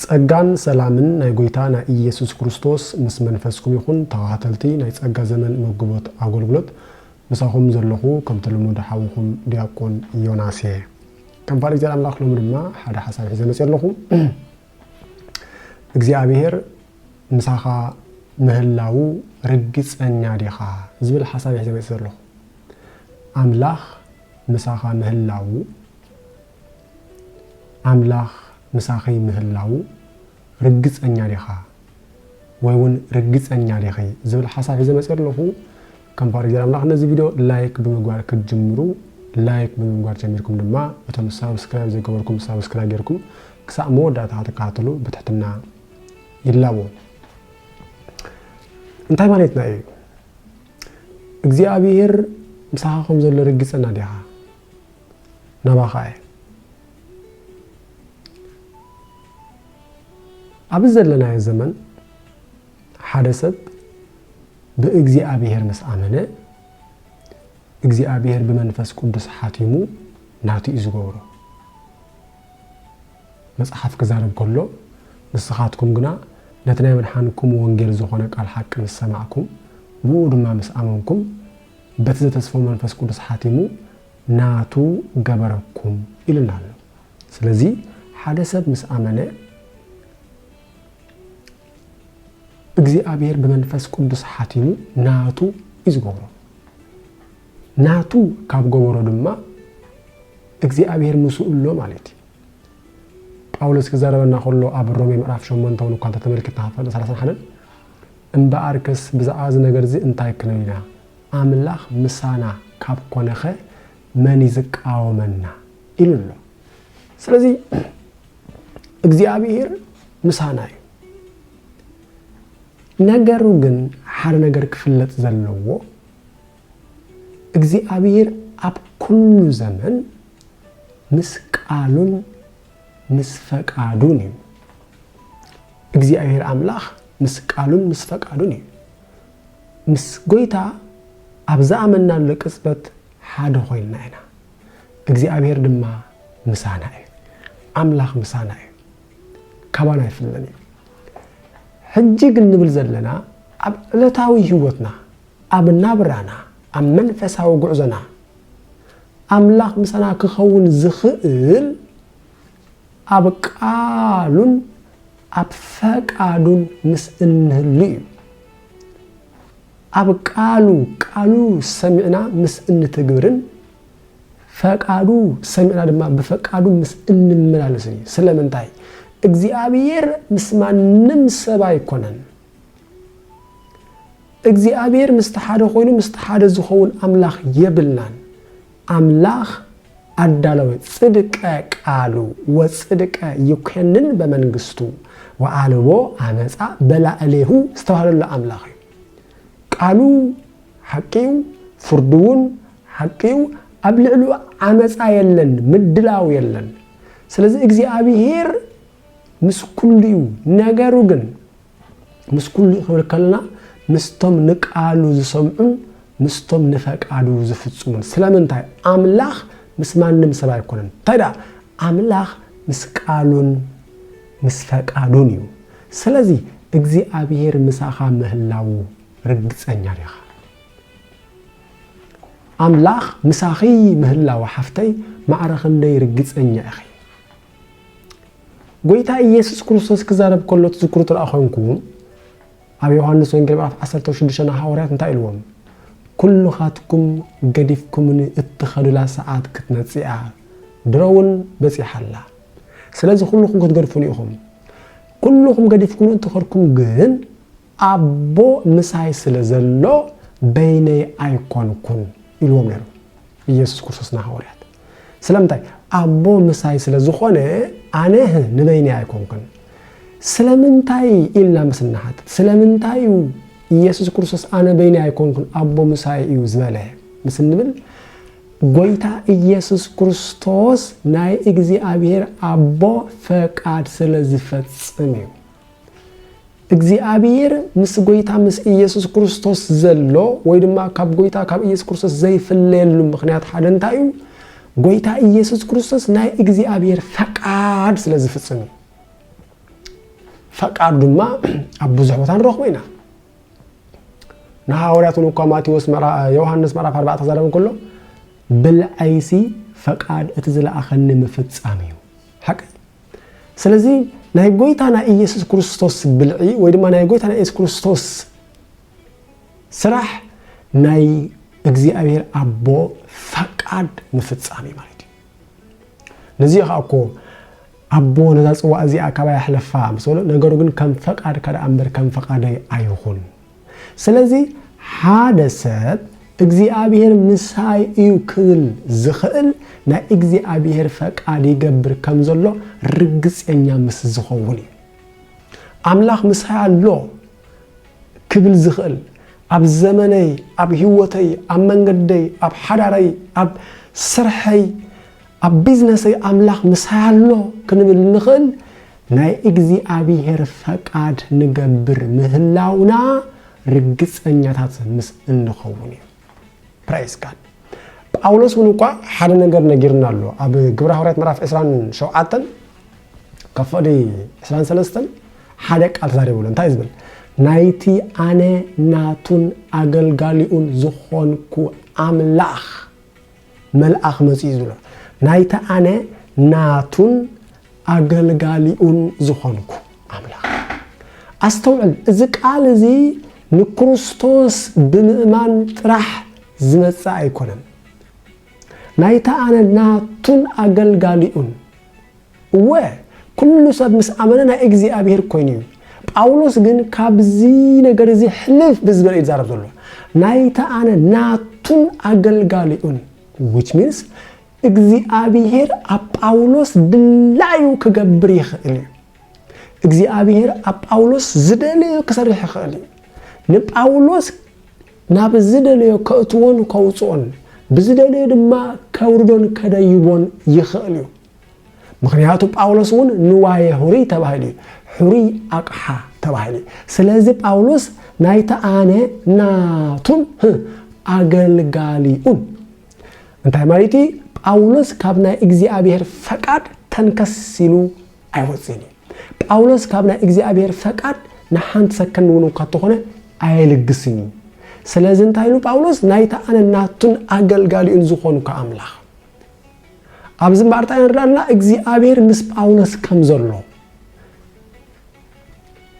ጸጋን ሰላምን ናይ ጎይታና ኢየሱስ ክርስቶስ ምስ መንፈስኩም ይኹን ተኻታተልቲ ናይ ጸጋ ዘመን መግቦት ኣጎልግሎት ምሳኹም ዘለኹ ከምቲ ልሙድ ሓውኹም ድያቆን ዮናስ እየ ከም ፍቃድ እግዚኣብሔር ኣምላኽ ሎሚ ድማ ሓደ ሓሳብ ሒዘ መጽየ ኣለኹ እግዚኣብሔር ምሳኻ ምህላዉ ርግጸኛ ዲኻ ዝብል ሓሳብ ሒዘ መጽየ ዘለኹ ኣምላኽ ምሳኻ ምህላዉ ኣምላኽ ምሳኺ ምህላዉ ርግጸኛ ዲኻ ወይ ውን ርግጸኛ ዲኺ ዝብል ሓሳብ ሒዘ መጺኤ ኣለኹ። ከም ፍቓድ እግዚኣብሔር ኣምላኽ ነዚ ቪድዮ ላይክ ብምግባር ክትጅምሩ ላይክ ብምግባር ጀሚርኩም ድማ እቶም ሳብስክራይብ ዘይገበርኩም ሳብስክራይብ ጌርኩም ክሳዕ መወዳእታ ክትከታተሉ ብትሕትና ይላቦ። እንታይ ማለትና እዩ? እግዚኣብሔር ምሳኻ ከም ዘሎ ርግጸና ዲኻ? ናባኻ እየ ኣብ ዘለናዮ ዘመን ሓደ ሰብ ብእግዚኣብሔር ምስ ኣመነ እግዚኣብሔር ብመንፈስ ቅዱስ ሓቲሙ ናቱ እዩ ዝገብሮ መጽሓፍ ክዛረብ ከሎ ንስኻትኩም ግና ነቲ ናይ መድሓንኩም ወንጌል ዝኾነ ቃል ሓቂ ምስ ሰማዕኩም ብኡ ድማ ምስ ኣመንኩም በቲ ዘተስፎ መንፈስ ቅዱስ ሓቲሙ ናቱ ገበረኩም ኢሉና ኣሎ ስለዚ ሓደ ሰብ ምስ ኣመነ እግዚኣብሔር ብመንፈስ ቅዱስ ሓቲሙ ናቱ እዩ ዝገብሮ ናቱ ካብ ገበሮ ድማ እግዚኣብሔር ምስኡ ኣሎ ማለት እዩ ጳውሎስ ክዛረበና ከሎ ኣብ ሮሜ ምዕራፍ 8 እውን እኳ እንተተመልክትና ክፍል 31 እምበኣርከስ ብዛዕባ እዚ ነገርዚ እንታይ ክንብል ኢና? ኣምላኽ ምሳና ካብ ኰነኸ መን እዩ ዚቃወመና? ኢሉ ኣሎ። ስለዚ እግዚኣብሄር ምሳና እዩ። ነገሩ ግን ሓደ ነገር ክፍለጥ ዘለዎ እግዚኣብሄር ኣብ ኩሉ ዘመን ምስ ቃሉን ምስ ፈቃዱን እዩ። እግዚኣብሔር ኣምላኽ ምስ ቃሉን ምስ ፈቃዱን እዩ። ምስ ጎይታ ኣብ ዝኣመናሉ ቅጽበት ሓደ ኮይንና ኢና። እግዚኣብሔር ድማ ምሳና እዩ። ኣምላኽ ምሳና እዩ። ካባና ኣይፍለን እዩ። ሕጂ ግን ንብል ዘለና ኣብ ዕለታዊ ህይወትና ኣብ ናብራና ኣብ መንፈሳዊ ጉዕዞና ኣምላኽ ምሳና ኪኸውን ዚኽእል፣ ኣብ ቃሉን ኣብ ፈቃዱን ምስ እንህሉ እዩ። ኣብ ቃሉ ቃሉ ሰሚዕና ምስ እንትግብርን ፈቃዱ ሰሚዕና ድማ ብፈቃዱ ምስ እንመላለስን እዩ። ስለምንታይ? እግዚኣብሔር ምስ ማንም ሰብ ኣይኮነን። እግዚኣብሔር ምስቲ ሓደ ኮይኑ ምስቲ ሓደ ዝኸውን ኣምላኽ የብልናን ኣምላኽ ኣዳለወ ጽድቀ ቃሉ ወጽድቀ ይኮንን በመንግስቱ ወኣልቦ ኣመፃ በላእሌሁ ዝተባህለሉ ኣምላኽ እዩ ቃሉ ሓቂዩ ፍርዱ እውን ሓቂዩ ኣብ ልዕሉ ዓመፃ የለን ምድላው የለን ስለዚ እግዚኣብሔር ምስ ኩሉ እዩ ነገሩ ግን ምስ ኩሉ ክንብል ከለና ምስቶም ንቃሉ ዝሰምዑን ምስቶም ንፈቃዱ ዝፍጽሙን ስለምንታይ ኣምላኽ ምስ ማንም ሰብ ኣይኮነን እንታይ ደኣ ኣምላኽ ምስ ቃሉን ምስ ፈቃዱን እዩ ስለዚ እግዚኣብሔር ምሳኻ ምህላዉ ርግጸኛ ዲኻ ኣምላኽ ምሳኺ ምህላው ሓፍተይ ማዕረ ክንደይ ርግጸኛ ኢኺ ጎይታ ኢየሱስ ክርስቶስ ክዛረብ ከሎ ትዝክሩ ትርኣ ኮንኩም ኣብ ዮሐንስ ወንጌል ምዕራፍ 16 ንሃዋርያት እንታይ ኢልዎም ኩልኻትኩም ገዲፍኩምኒ እትኸዱላ ሰዓት ክትመጽእ እያ ድሮ እውን በጺሓ ኣላ ስለዚ ኩልኹም ክትገድፉኒ ኢኹም ኩልኹም ገዲፍኩም እትኸድኩም ግን ኣቦ ምሳይ ስለ ዘሎ በይነይ ኣይኰንኩን ኢልዎም ነይሩ ኢየሱስ ክርስቶስ ንሃዋርያት። ስለምንታይ? ኣቦ ምሳይ ስለ ዝዀነ ኣነ ንበይነይ ኣይኰንኩን። ስለምንታይ ኢልና ምስ እንሓትት ስለምንታይ እዩ ኢየሱስ ክርስቶስ ኣነ በይነይ ኣይኰንኩን ኣቦ ምሳይ እዩ ዝበለ ምስ እንብል ጐይታ ኢየሱስ ክርስቶስ ናይ እግዚኣብሔር ኣቦ ፈቃድ ስለ ዝፈጽም እዩ። እግዚኣብሔር ምስ ጎይታ ምስ ኢየሱስ ክርስቶስ ዘሎ ወይ ድማ ካብ ጎይታ ካብ ኢየሱስ ክርስቶስ ዘይፍለየሉ ምክንያት ሓደ እንታይ እዩ? ጎይታ ኢየሱስ ክርስቶስ ናይ እግዚኣብሔር ፈቃድ ስለ ዝፍጽም እዩ። ፈቃድ ድማ ኣብ ብዙሕ ቦታ ንረኽቦ ኢና። ንሃዋርያት እውን እኳ ማቴዎስ ዮሃንስ ምዕራፍ 4 ክዛረብ ከሎ ብልዐይሲ ፈቃድ እቲ ዝለኣኸኒ ምፍጻም እዩ ሓቂ ስለዚ ናይ ጎይታና ኢየሱስ ክርስቶስ ብልዒ ወይ ድማ ናይ ጎይታና ኢየሱስ ክርስቶስ ስራሕ ናይ እግዚኣብሔር ኣቦ ፈቃድ ምፍጻም እዩ ማለት እዩ ነዚ ከዓ እኮ ኣቦ ነዛ ጽዋዕ እዚኣ ካባይ ኣሕለፋ ምስ በሎ ነገሩ ግን ከም ፈቃድካ ደኣ እምበር ከም ፈቃደይ ኣይኹን ስለዚ ሓደ ሰብ እግዚኣብሄር ምሳይ እዩ ክብል ዝኽእል ናይ እግዚኣብሄር ፈቃድ ይገብር ከም ዘሎ ርግጸኛ ምስ ዝኸውን እዩ። ኣምላኽ ምሳይ ኣሎ ክብል ዝኽእል ኣብ ዘመነይ፣ ኣብ ህይወተይ፣ ኣብ መንገደይ፣ ኣብ ሓዳረይ፣ ኣብ ስርሐይ ኣብ ቢዝነሰይ ኣምላኽ ምሳይ ኣሎ ክንብል እንኽእል ናይ እግዚኣብሄር ፈቃድ ንገብር ምህላውና ርግጸኛታት ምስ እንኸውን እዩ። ፕራይዝ ጋድ። ጳውሎስ እውን እኳ ሓደ ነገር ነጊርና ኣሎ ኣብ ግብረ ሃዋርያት ምዕራፍ 27 ካብ ፍቕዲ 23 ሓደ ቃል ተዛሪቡ ኣሎ እንታይ ዝብል ናይቲ ኣነ ናቱን ኣገልጋሊኡን ዝኾንኩ ኣምላኽ መልኣኽ መጺኡ ዝብሎ ናይቲ ኣነ ናቱን ኣገልጋሊኡን ዝኾንኩ ኣምላኽ። ኣስተውዕል፣ እዚ ቃል እዚ ንክርስቶስ ብምእማን ጥራሕ ዝመጽእ ኣይኮነን። ናይቲ ኣነ ናቱን ኣገልጋሊኡን እወ፣ ኵሉ ሰብ ምስ ኣመነ ናይ እግዚኣብሄር ኰይኑ እዩ። ጳውሎስ ግን ካብዚ ነገር እዚ ሕልፍ ብዝበለ እዩ ዝዛረብ ዘሎ። ናይታ ኣነ ናቱን ኣገልጋሊኡን፣ which means እግዚኣብሄር ኣብ ጳውሎስ ድላዩ ክገብር ይኽእል እዩ። እግዚኣብሄር ኣብ ጳውሎስ ዝደለዮ ክሰርሕ ይኽእል እዩ። ንጳውሎስ ናብ ዝደለዮ ከእትዎን ከውጽኦን፣ ብዝደለዮ ድማ ከውርዶን ከደይቦን ይኽእል እዩ። ምክንያቱ ጳውሎስ እውን ንዋየ ሁርይ ተባሂሉ እዩ ሕሩይ ኣቕሓ ተባሂሉ እዩ ስለዚ ጳውሎስ ናይቲ ኣነ ናቱን ኣገልጋሊኡን እንታይ ማለት እዩ ጳውሎስ ካብ ናይ እግዚኣብሔር ፈቃድ ተንከስ ኢሉ ኣይወፅን እዩ ጳውሎስ ካብ ናይ እግዚኣብሔር ፈቃድ ንሓንቲ ሰከንድ እውን እኳ ተኾነ ኣየልግስን እዩ ስለዚ እንታይ ኢሉ ጳውሎስ ናይቲ ኣነ ናቱን ኣገልጋሊኡን ዝኾንኩ ኣምላኽ ኣብዚ እምበኣር እንታይ ንርኢ ኣለና? እግዚኣብሔር ምስ ጳውሎስ ከም ዘሎ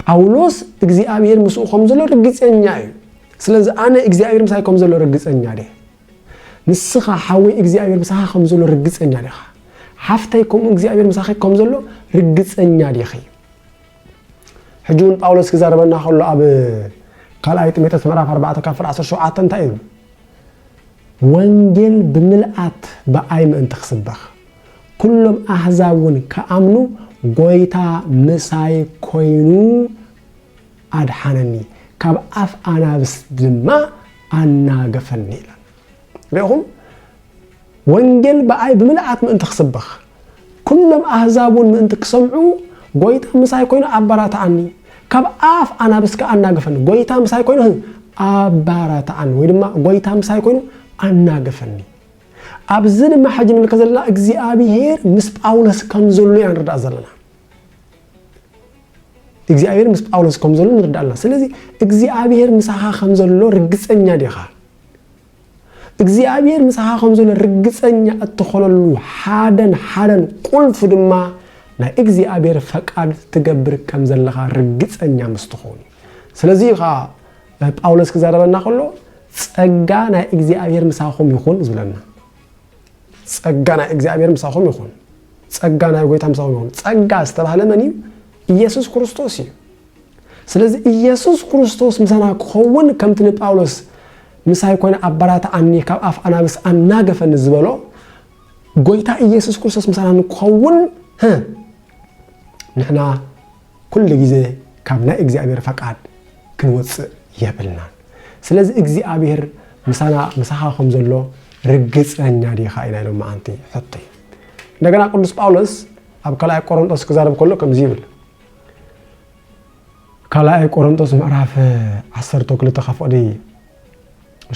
ጳውሎስ እግዚኣብሔር ምስኡ ከም ዘሎ ርግፀኛ እዩ። ስለዚ ኣነ እግዚኣብሔር ምሳይ ከም ዘሎ ርግፀኛ ድየ? ንስኻ ሓወይ እግዚኣብሔር ምሳኻ ከም ዘሎ ርግፀኛ ዲኻ? ሓፍተይ ከምኡ እግዚኣብሔር ምሳኺ ከም ዘሎ ርግፀኛ ዲኺ? ሕጂ እውን ጳውሎስ ክዛረበና ከሎ ኣብ ካልኣይ ጢሞቴዎስ ምዕራፍ 4 ካብ ፍረ 17 እንታይ እዩ ወንጌል ብምልኣት ብኣይ ምእንቲ ክስበኽ፣ ኵሎም ኣህዛብውን ክኣምኑ፣ ጐይታ ምሳይ ኰይኑ ኣድሓነኒ፣ ካብ ኣፍ ኣናብስ ድማ ኣናገፈኒ ኢላ። ርኢኹም? ወንጌል ብኣይ ብምልኣት ምእንቲ ክስበኽ፣ ኵሎም ኣህዛብውን ምእንቲ ክሰምዑ፣ ጐይታ ምሳይ ኰይኑ ኣበራትዓኒ። ካብ ኣፍ ኣናብስ ከኣ ኣናግፈኒ። ጐይታ ምሳይ ኰይኑ ኣበራትዓኒ፣ ወይ ድማ ጐይታ ምሳይ ኰይኑ ኣናግፈኒ። ኣብዚ ድማ ሕጂ ንምልከት ዘለና እግዚኣብሄር ምስ ጳውሎስ ከም ዘሎ ኢና ንርዳእ ዘለና። እግዚኣብሄር ምስ ጳውሎስ ከም ዘሎ ንርዳእ ኣለና። ስለዚ እግዚኣብሄር ምሳኻ ከም ዘሎ ርግጸኛ ዲኻ? እግዚኣብሔር ምሳኻ ከም ዘሎ ርግጸኛ እትኾነሉ ሓደን ሓደን ቁልፍ ድማ ናይ እግዚኣብሔር ፈቃድ ትገብር ከም ዘለኻ ርግጸኛ ምስ ትኾን እዩ። ስለዚ እዩ ኸዓ ጳውሎስ ክዛረበና ከሎ ጸጋ ናይ እግዚኣብሔር ምሳኹም ይኹን ዝብለና። ጸጋ ናይ እግዚኣብሔር ምሳኹም ይኹን፣ ጸጋ ናይ ጎይታ ምሳኹም ይኹን። ጸጋ ዝተባህለ መን እዩ? ኢየሱስ ክርስቶስ እዩ። ስለዚ ኢየሱስ ክርስቶስ ምሳና ክኸውን ከምቲ ንጳውሎስ ምሳይ ኮነ ኣበራትዓኒ ካብ ኣፍ ኣናብስ ኣናገፈኒ ዝበሎ ጎይታ ኢየሱስ ክርስቶስ ምሳና ንክኸውን ንሕና ኩሉ ግዜ ካብ ናይ እግዚኣብሔር ፈቃድ ክንወፅእ የብልናን ስለዚ እግዚኣብሔር ምሳና ምሳኻ ከም ዘሎ ርግፀኛ ዲኻ ኢና ኢሎም መዓንቲ ሕቶ እዩ እንደገና ቅዱስ ጳውሎስ ኣብ ካልኣይ ቆሮንጦስ ክዛረብ ከሎ ከምዚ ይብል ካልኣይ ቆሮንጦስ ምዕራፍ ዓሰርተ ክልተ ካብ ፍቕዲ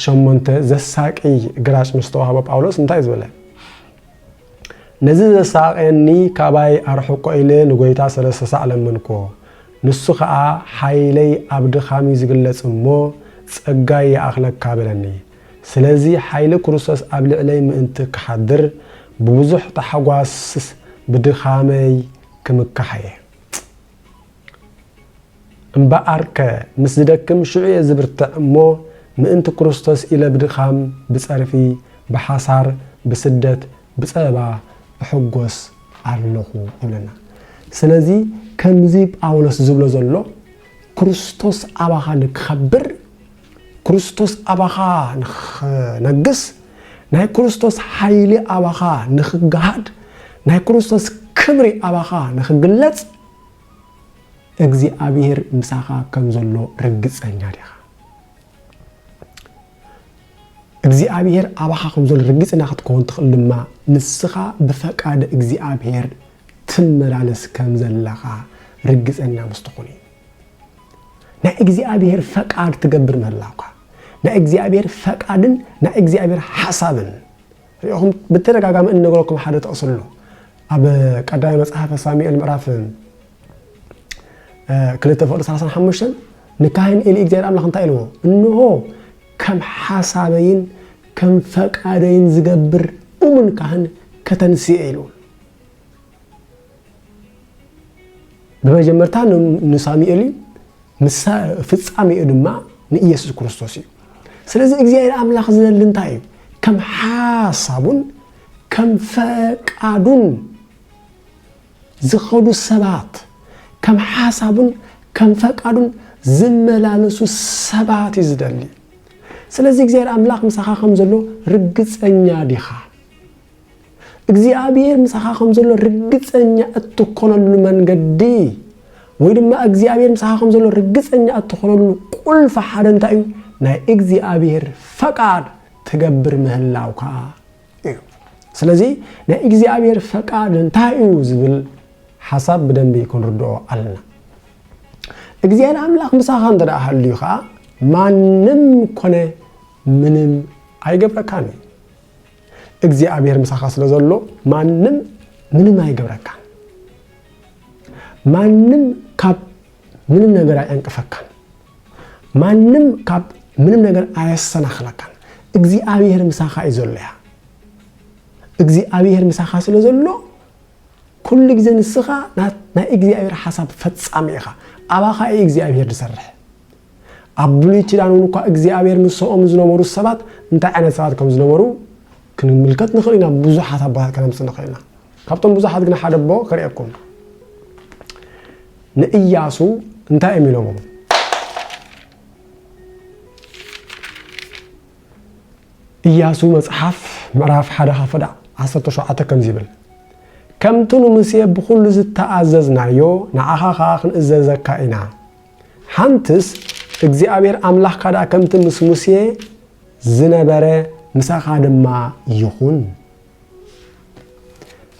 ሸሞንተ ዘሳቂ ግራጭ ምስ ተዋህቦ ጳውሎስ እንታይ ዝበለ ነዚ ዘሳቐየኒ ካባይ ኣርሕቆ ኢለ ንጎይታ ሰለስተ ሳዕ ለመንኮ ንሱ ኸኣ ሓይለይ ኣብ ድኻም እዩ ዝግለጽ እሞ ጸጋይ ይኣኽለካ በለኒ ስለዚ ሓይሊ ክርስቶስ ኣብ ልዕለይ ምእንቲ ክሓድር ብብዙሕ ታሕጓስ ብድኻመይ ክምካሕ እየ እምበኣርከ ምስ ዝደክም ሽዑ እየ ዝብርትዕ እሞ ምእንቲ ክርስቶስ ኢለ ብድኻም ብጸርፊ ብሓሳር ብስደት ብጸበባ እሕጎስ ኣለኹ ይብለና ስለዚ ከምዚ ጳውሎስ ዝብሎ ዘሎ ክርስቶስ ኣባኻ ንክኸብር ክርስቶስ ኣባኻ ንኽነግስ፣ ናይ ክርስቶስ ሓይሊ ኣባኻ ንኽገሃድ፣ ናይ ክርስቶስ ክብሪ ኣባኻ ንኽግለጽ፣ እግዚኣብሄር ምሳኻ ከም ዘሎ ርግጸኛ ዲኻ? እግዚኣብሄር ኣባኻ ከም ዘሎ ርግጽና ክትከውን ትኽእል ድማ ንስኻ ብፈቃድ እግዚኣብሄር ትመላለስ ከም ዘለኻ ርግጸኛ ምስ ትኹን እዩ። ናይ እግዚኣብሔር ፈቃድ ትገብር ምህላውካ ናይ እግዚኣብሔር ፈቃድን ናይ እግዚኣብሔር ሓሳብን ሪኹም ብተደጋጋሚ እንነግረኩም ሓደ ጥቕሲ ኣሎ ኣብ ቀዳማይ መጽሓፈ ሳሙኤል ምዕራፍ ክልተ ፍቅዲ 35 ንካህን ኤሊ እግዚኣብሔር ኣምላኽ እንታይ ኢልዎ እንሆ ከም ሓሳበይን ከም ፈቃደይን ዝገብር እሙን ካህን ከተንስኤ ኢሉ ብመጀመርታ ንሳሙኤል እዩ ፍጻሜኡ ድማ ንኢየሱስ ክርስቶስ እዩ ስለዚ እግዚኣብሔር ኣምላኽ ዝደሊ እንታይ እዩ ከም ሓሳቡን ከም ፈቃዱን ዝኸዱ ሰባት ከም ሓሳቡን ከም ፈቃዱን ዝመላለሱ ሰባት እዩ ዝደሊ ስለዚ እግዚኣብሔር ኣምላኽ ምሳኻ ከም ዘሎ ርግፀኛ ዲኻ እግዚኣብሔር ምሳኻ ከም ዘሎ ርግጸኛ እትኮነሉ መንገዲ ወይ ድማ እግዚኣብሔር ምሳኻ ከም ዘሎ ርግጸኛ እትኾነሉ ቁልፊ ሓደ እንታይ እዩ ናይ እግዚኣብሔር ፈቃድ ትገብር ምህላውካ እዩ ስለዚ ናይ እግዚኣብሔር ፈቃድ እንታይ እዩ ዝብል ሓሳብ ብደንቢ ክንርድኦ ኣለና እግዚኣብሔር ኣምላኽ ምሳኻ እንተ ደኣ ሃልዩ ከዓ ማንም ኮነ ምንም ኣይገብረካን እዩ እግዚኣብሔር ምሳኻ ስለ ዘሎ ማንም ምንም ኣይገብረካን። ማንም ካብ ምንም ነገር ኣየንቅፈካን። ማንም ካብ ምንም ነገር ኣየሰናኽለካን። እግዚኣብሔር ምሳኻ እዩ ዘሎ እያ እግዚኣብሔር ምሳኻ ስለ ዘሎ ኩሉ ግዜ ንስኻ ናይ እግዚኣብሔር ሓሳብ ፈጻሚ ኢኻ። ኣባኻ እዩ እግዚኣብሔር ዝሰርሕ። ኣብ ብሉይ ኪዳን እውን እኳ እግዚኣብሔር ምሰኦም ዝነበሩ ሰባት እንታይ ዓይነት ሰባት ከም ዝነበሩ ክንምልከት ንኽእል ኢና ብዙሓት ኣቦታት ከነምፅእ ንኽእል ኢና ካብቶም ብዙሓት ግን ሓደ ኣቦ ክርእየኩም ንእያሱ እንታይ እዮም ኢሎሞ እያሱ መፅሓፍ ምዕራፍ ሓደ ካብ ፈዳ 17 ከምዚ ይብል ከምቲ ንሙሴ ብኩሉ ዝተኣዘዝናዮ ንዓኻ ከዓ ክንእዘዘካ ኢና ሓንትስ እግዚኣብሔር ኣምላኽካ ደኣ ከምቲ ምስ ሙሴ ዝነበረ ምሳኻ ድማ ይኹን።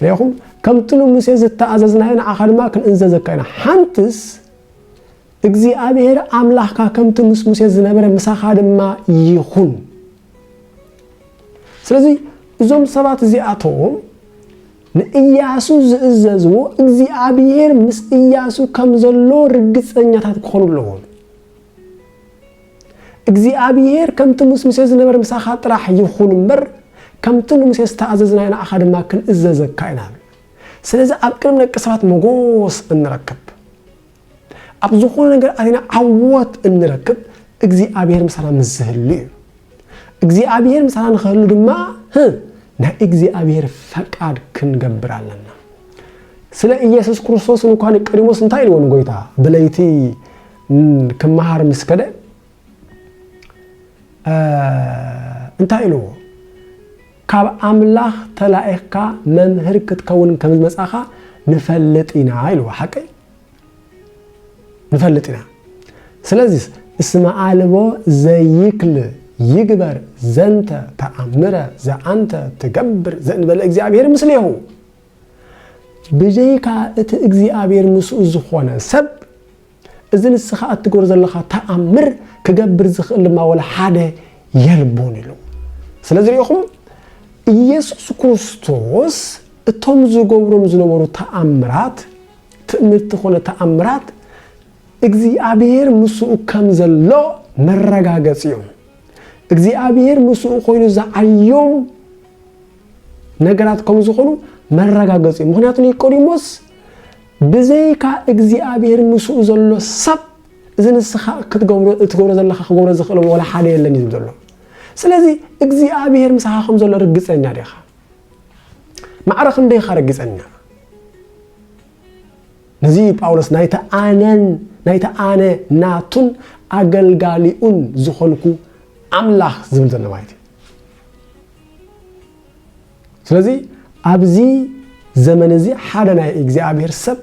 ርኹም ከምቲ ንሙሴ ዝተኣዘዝናዮ ንዓኻ ድማ ክንእዘዘካ ኢና ሓንትስ እግዚኣብሔር ኣምላኽካ ከምቲ ምስ ሙሴ ዝነበረ ምሳኻ ድማ ይኹን ስለዚ እዞም ሰባት እዚኣቶም ንእያሱ ዝእዘዝዎ እግዚኣብሄር ምስ እያሱ ከም ዘሎ ርግጸኛታት ክኾኑ ኣለዎም። እግዚኣብሄር ከምቲ ምስ ሙሴ ዝነበረ ምሳኻ ጥራሕ ይኹን እምበር ከምቲ ንሙሴ ዝተኣዘዝናዮ ንዓኻ ድማ ክንእዘዘካ ኢና። ስለዚ ኣብ ቅድሚ ደቂ ሰባት መጎስ እንረክብ። ኣብ ዝኾነ ነገር ኣቲና ዓወት እንረክብ እግዚኣብሔር ምሳና ምስ ዝህሉ እዩ እግዚኣብሔር ምሳና ንክህሉ ድማ ናይ እግዚኣብሔር ፈቃድ ክንገብር ኣለና ስለ ኢየሱስ ክርስቶስ እንኳ ንቀዲሞስ እንታይ ኢልዎ ንጎይታ ብለይቲ ክመሃር ምስ ከደ እንታይ ኢልዎ ካብ ኣምላኽ ተላኢኽካ መምህር ክትከውን ከም ዝመፃኻ ንፈልጥ ኢና ኢልዎ ሓቀይ ንፈልጥ ኢና ስለዚ እስመ ኣልቦ ዘይክል ይግበር ዘንተ ተኣምረ ዘኣንተ ትገብር ዘእንበለ እግዚኣብሔር ምስሌሁ ብዘይካ እቲ እግዚኣብሔር ምስኡ ዝኾነ ሰብ እዚ ንስኻ እትገብሮ ዘለኻ ተኣምር ክገብር ዝኽእል ድማ ወላ ሓደ የልቦን ኢሉ ስለዚ ሪኢኹም ኢየሱስ ክርስቶስ እቶም ዝገብሮም ዝነበሩ ተኣምራት ትእምርቲ ኮነ ተኣምራት እግዚኣብሔር ምስኡ ከም ዘሎ መረጋገፂ እዮም። እግዚኣብሔር ምስኡ ኮይኑ ዝዓዮም ነገራት ከም ዝኾኑ መረጋገፂ እዩ። ምክንያቱ ኒቆዲሞስ ብዘይካ እግዚኣብሔር ምስኡ ዘሎ ሰብ እዚ ንስኻ እትገብሮ ዘለካ ክገብሮ ዝኽእሎም ወላ ሓደ የለን እዩ ዘሎ። ስለዚ እግዚኣብሔር ምሳኻ ከም ዘሎ ርግፀኛ ዲኻ? ማዕረ ክንደይ ኢኻ ረጊጸና ነዚ ጳውሎስ ናይቲ ኣነን ናይቲ ኣነ ናቱን ኣገልጋሊኡን ዝኾንኩ ኣምላኽ ዝብል ዘሎ ማለት እዩ ስለዚ ኣብዚ ዘመን እዚ ሓደ ናይ እግዚኣብሔር ሰብ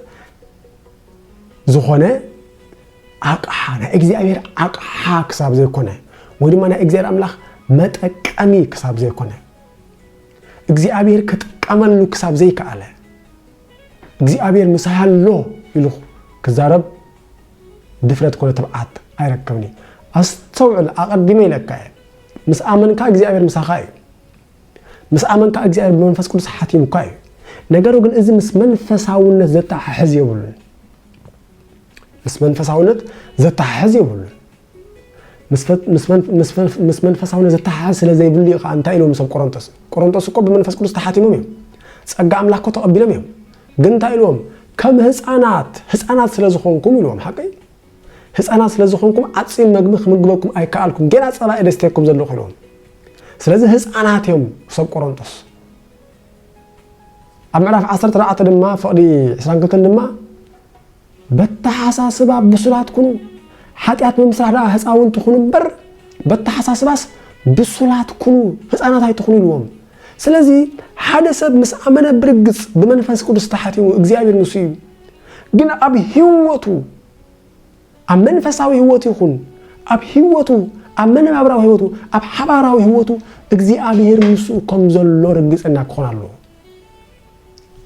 ዝኾነ ኣቕሓ ናይ እግዚኣብሔር ኣቕሓ ክሳብ ዘይኮነ ወይ ድማ ናይ እግዚኣብሔር ኣምላኽ መጠቀሚ ክሳብ ዘይኮነ እግዚኣብሔር ክጥቀመሉ ክሳብ ዘይከኣለ እግዚኣብሔር ምሳይ ኣሎ ኢሉ ክዛረብ ድፍረት ኮነ ትብዓት ኣይረከብን እዩ ኣስተውዕል ኣቐዲመ ኢለካ እየ ምስ ኣመንካ እግዚኣብሔር ምሳኻ እዩ ምስ ኣመንካ እግዚኣብሔር ብመንፈስ ቅዱስ ሓቲሙካ እዩ ነገሩ ግን እዚ ምስ መንፈሳውነት ዘተሓሕዝ የብሉን ምስ መንፈሳውነት ዘተሓሕዝ የብሉን ምስ መንፈሳውነት ዝተሓሓዝ ስለ ዘይብሉ እዩ ከኣ እንታይ ኢልዎም ሰብ ቆሮንጦስ ቆሮንጦስ እኮ ብመንፈስ ቅዱስ ተሓቲሞም እዮም ጸጋ ኣምላኽ እኮ ተቐቢሎም እዮም ግን እንታይ ኢልዎም ከም ህፃናት ህፃናት ስለ ዝኾንኩም ኢልዎም ሓቀይ ህፃናት ስለ ዝኾንኩም ዓፂን መግቢ ክምግበኩም ኣይከኣልኩም ጌና ፀባኢ ደስተኩም ዘለኹ ኢልዎም ስለዚ ህፃናት እዮም ሰብ ቆሮንጦስ ኣብ ምዕራፍ 14 ድማ ፍቕዲ 22 ድማ በተሓሳስባ ብሱላት ኩኑ ሓጢኣት ብምስራሕ ደኣ ህፃውንቲ ኩኑ እምበር በተሓሳስባስ ብሱላት ኩኑ ህፃናት ኣይትኹኑ ኢልዎም ስለዚ ሓደ ሰብ ምስ ኣመነ ብርግፅ ብመንፈስ ቅዱስ ተሓቲሙ እግዚኣብሔር ንሱ እዩ ግን ኣብ ህይወቱ ኣብ መንፈሳዊ ህይወቱ ይኹን ኣብ ህይወቱ ኣብ መነባብራዊ ህይወቱ ኣብ ሓባራዊ ህይወቱ እግዚኣብሔር ምስኡ ከም ዘሎ ርግፀና ክኾን ኣለዎ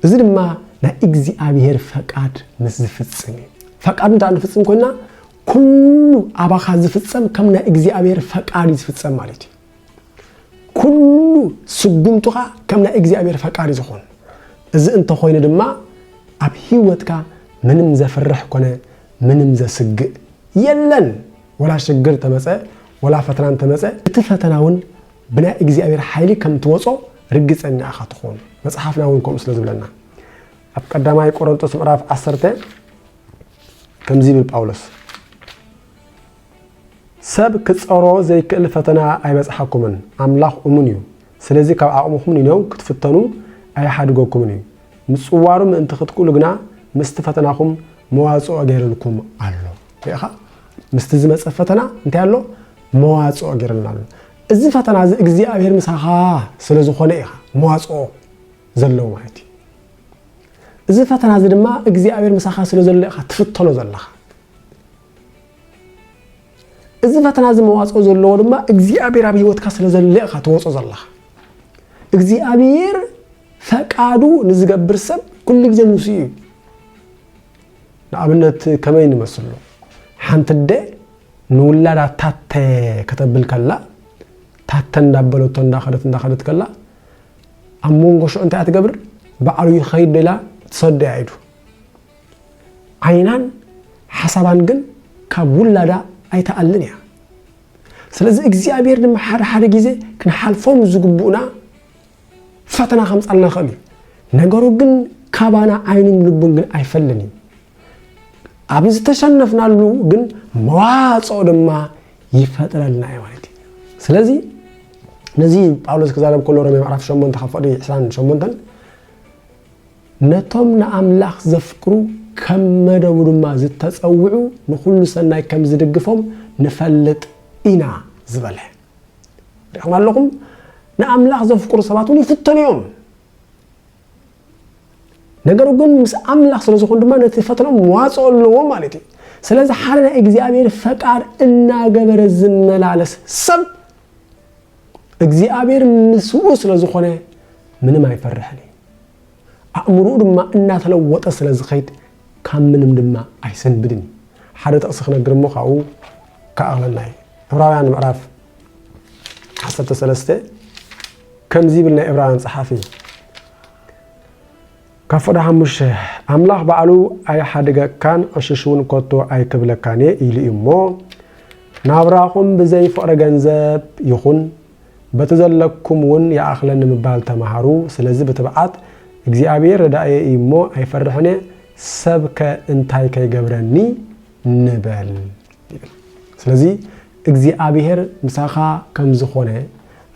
እዚ ድማ ናይ እግዚኣብሄር ፈቃድ ምስ ዝፍጽም እዩ። ፈቃዱ እንተ ንፍጽም ኮይና ኩሉ ኣባኻ ዝፍጸም ከም ናይ እግዚኣብሄር ፈቃድ እዩ ዝፍጸም ማለት እዩ። ኩሉ ስጉምትኻ ከም ናይ እግዚኣብሄር ፈቃድ እዩ ዝኾን። እዚ እንተኾይኑ ድማ ኣብ ህይወትካ ምንም ዘፍርሕ ኮነ ምንም ዘስግእ የለን። ወላ ሽግር ተመፀ ወላ ፈተና እንተመፀ እቲ ፈተና እውን ብናይ እግዚኣብሔር ሓይሊ ከም ትወጾ ርግጸኛ ኢኻ ትኾን መጽሓፍና እውን ከምኡ ስለ ዝብለና ኣብ ቀዳማይ ቆሮንጦስ ምዕራፍ ዓሰርተ ከምዚ ይብል ጳውሎስ ሰብ ክጸሮ ዘይክእል ፈተና ኣይበጽሓኩምን ኣምላኽ እሙን እዩ ስለዚ ካብ ዓቕምኹም ንነው ክትፍተኑ ኣይሓድገኩምን እዩ ምጽዋሩ ምእንቲ ክትክእሉ ግና ምስቲ ፈተናኹም መዋጽኦ ገይርልኩም ኣሎ ርኢኻ ምስቲ ዝመጸ ፈተና እንታይ ኣሎ መዋጽኦ ጌርልና ኣሎ። እዚ ፈተና እዚ እግዚኣብሄር ምሳኻ ስለ ዝኾነ ኢኻ መዋጽኦ ዘለዎ ማለት እዩ። እዚ ፈተና እዚ ድማ እግዚኣብሄር ምሳኻ ስለ ዘሎ ኢኻ ትፍተኖ ዘለኻ። እዚ ፈተና እዚ መዋጽኦ ዘለዎ ድማ እግዚኣብሔር ኣብ ህይወትካ ስለ ዘለ ኢኻ ትወጾ ዘለኻ እግዚኣብሔር ፈቃዱ ንዝገብር ሰብ ኩሉ ግዜ ምስ እዩ ንኣብነት ከመይ ንመስሎ ሓንቲ ደ ንውላዳ ታተ ከተብል ከላ ታተ እንዳበለቶ እንዳኸደት እንዳኸደት ከላ ኣብ መንጎ ሽዑ እንታይ ትገብር ባዕሉ ይኸይድ ዶ ኢላ ትሰዶ እያ ኢዱ ዓይናን ሓሳባን ግን ካብ ውላዳ ኣይትኣልን እያ ስለዚ እግዚኣብሔር ድማ ሓደ ሓደ ግዜ ክንሓልፎም ዝግብኡና ፈተና ከምፃልና ይኽእል እዩ ነገሩ ግን ካባና ዓይኑን ልቡን ግን ኣይፈልን እዩ ኣብ ዝተሸነፍናሉ ግን መዋፅኦ ድማ ይፈጥረልና እዩ ማለት እዩ ስለዚ ነዚ ጳውሎስ ክዛረብ ከሎ ሮሜ ምዕራፍ 8 ካብ ፍቅዲ 28 ነቶም ንኣምላኽ ዘፍቅሩ ከም መደቡ ድማ ዝተፀውዑ ንኩሉ ሰናይ ከም ዝድግፎም ንፈልጥ ኢና ዝበለ ሪኹም ኣለኹም ንኣምላኽ ዘፍቅሩ ሰባት እውን ይፍተኑ እዮም ነገሩ ግን ምስ ኣምላኽ ስለ ዝኾኑ ድማ ነቲ ፈተኖም መዋጽኦ ኣለዎ ማለት እዩ ስለዚ ሓደ ናይ እግዚኣብሔር ፈቃድ እናገበረ ዝመላለስ ሰብ እግዚኣብሔር ምስኡ ስለ ዝኾነ ምንም ኣይፈርሕን እዩ ኣእምሮኡ ድማ እናተለወጠ ስለ ዝኸይድ ካብ ምንም ድማ ኣይሰንብድን እዩ ሓደ ጥቕሲ ክነግር እሞ ካብኡ ክኣቕለና እዩ ዕብራውያን ምዕራፍ ዓሰርተ ሰለስተ ከምዚ ይብል ናይ እብራውያን ጸሓፊ ካብ ፍቕዲ ሓሙሽተ ኣምላኽ ባዕሉ ኣይሓድገካን ዕሽሽ እውን ኮቶ ኣይክብለካን እየ ኢሉ እዩ እሞ ናብራኹም ብዘይ ፍቕሪ ገንዘብ ይኹን በቲ ዘለኩም እውን ይኣኽለኒ ምባል ተምሃሩ ስለዚ ብትብዓት እግዚኣብሔር ረዳእየ እዩ እሞ ኣይፈርሕን እየ ሰብከ እንታይ ከይገብረኒ ንበል ይብል። ስለዚ እግዚኣብሄር ምሳኻ ከም ዝኾነ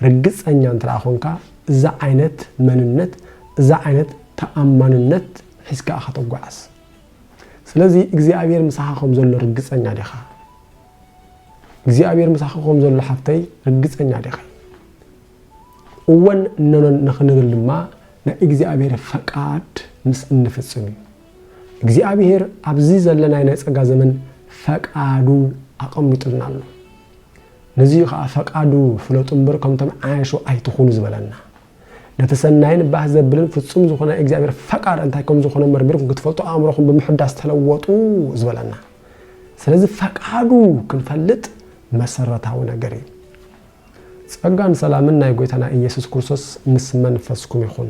ርግጸኛ እንተ ኾንካ እዚ ዓይነት መንነት እዚ ዓይነት ተኣማንነት ሒዝካ ኢኻ ተጓዓዝ። ስለዚ እግዚኣብሄር ምሳኻ ከም ዘሎ ርግጸኛ ዲኻ? እግዚኣብሄር ምሳኻ ከም ዘሎ ሓፍተይ ርግጸኛ ዲኺ? እወን እነኖን ንኽንብል ድማ ናይ እግዚኣብሄር ፈቃድ ምስ እንፍጽም እዩ። እግዚኣብሔር ኣብዚ ዘለናይ ናይ ጸጋ ዘመን ፈቃዱ ኣቐሚጡልና ኣሎ። ነዚ እዩ ከዓ ፈቃዱ ፍለጡ እምበር ከምቶም ዓያሹ ኣይትኹኑ ዝበለና። ነቲ ሰናይን ባህ ዘብልን ፍጹም ዝኾነ ናይ እግዚኣብሔር ፈቃድ እንታይ ከም ዝኾነ መርሚርኩም ክትፈልጡ ኣእምሮኹም ብምሕዳስ ተለወጡ ዝበለና። ስለዚ ፈቃዱ ክንፈልጥ መሰረታዊ ነገር እዩ። ጸጋን ሰላምን ናይ ጎይታና ኢየሱስ ክርስቶስ ምስ መንፈስኩም ይኹን።